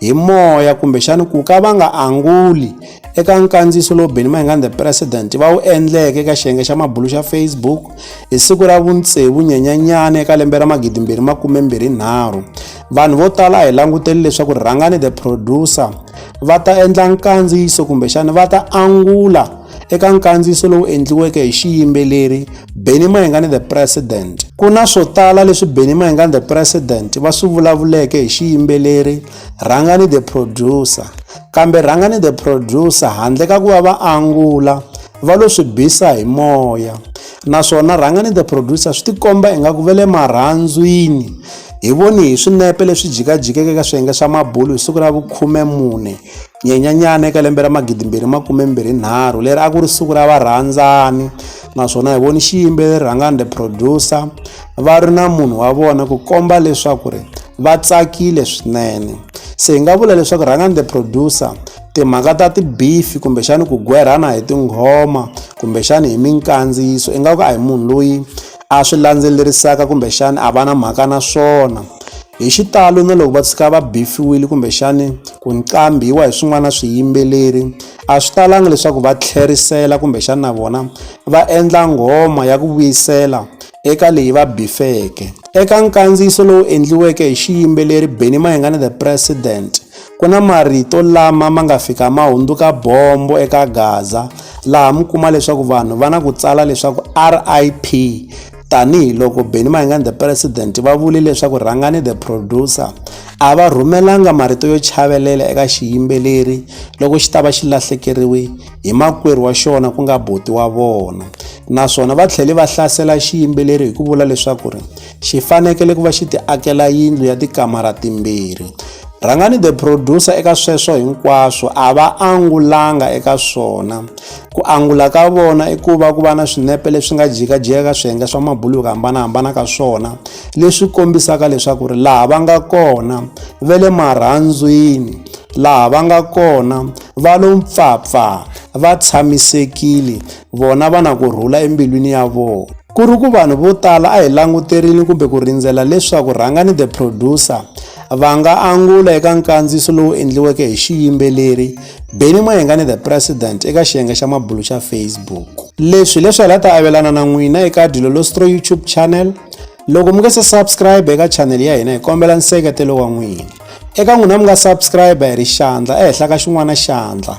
hi moya kumbexani ku ka va nga anguli eka nkandziyiso lowu benny mayingan the president va wu endleke eka xiyenge xa mabulu xa facebook hi siku ra vuntsevu nyenyanyana eka lembe ra magidimbirhi makumembirhi nharhu vanhu vo tala a hi languteli leswaku rhangani the producer va ta endla nkandziyiso kumbexani va ta angula eka nkandziyiso lowu endliweke hi xiyimbeleri Benny Mayengani the President. Ku na swo tala leswi Benny Mayengani the President va swi vulavuleke hi xiyimbeleri Rhangani the Producer. Kambe Rhangani the Producer handle ka ku va va angula va lo swi bisa hi moya naswona Rhangani the Producer swi tikomba ingaku va le marhandzwini hi voni hi swinepe leswi jikajikeke ka swiyenge swa mabulu hi siku ra vukhume mune Nyenyenyana eka lembe ra magidi mbirhi makume mbirhi nharhu leri a ku ri siku ra varhandzani naswona hi voni xiyimbeleri rhangani the producer va ri na munhu wa vona ku komba leswaku ri va tsakile swinene se hi nga vula leswaku rhangani the producer timhaka ta tibifi kumbexani ku gwerhana hi tinghoma kumbexani hi minkandziyiso ingaku a hi munhu loyi a swi landzelerisaka kumbexana a va na mhaka na swona hi xitalo na loko va tshika va bifiwile kumbexani ku nqambiwa hi swin'wana na swiyimbeleri a swi talanga leswaku va tlherisela kumbexana na vona va endla nghoma ya ku vuyisela eka leyi va bifeke eka nkandziyiso lowu endliweke hi xiyimbeleri benny mayengani the president Ku na marito lama ma nga fika ma hundzuka bombo eka Gaza laha mi kuma leswaku vanhu va na ku tsala leswaku RIP tanihiloko Benny Mayengani the president va vule leswaku rhangani the producer a va rhumelanga marito yo chavelela eka xiyimbeleri loko xi ta va xi lahlekeriwe hi makwerhu wa xona ku nga boti wa vona naswona va tlhele va hlasela xiyimbeleri hi ku vula leswaku ri xi fanekele ku va xi ti akela yindlu ya tikamara timbirhi rhangani the producer eka sweswo hinkwaswo a va angulanga eka swona ku angula ka vona i ku va ku va na swinepe leswi nga jikajika ka swiyenge swa mabulu yo hambanahambana ka swona leswi kombisaka leswaku ri laha va nga kona ve le marhandzwini laha va nga kona va lo mpfapfa va tshamisekile vona va na ku rhula embilwini ya vona ku ri ku vanhu vo tala a hi languterile kumbe ku rindzela leswaku rhangani the producer va nga angula eka nkandziyiso lowu endliweke hi xiyimbeleri beni mayengani the president eka xiyenge xa mabulu xa facebook leswi leswi hi la ta avelana na n'wina eka dilo lostro youtube channel loko mi nga se subscribe eka channel ya hina hi kombela nseketelo wa n'wina eka n'wina mi nga subscribe hi ri xandla ehenhla ka xin'wana xandla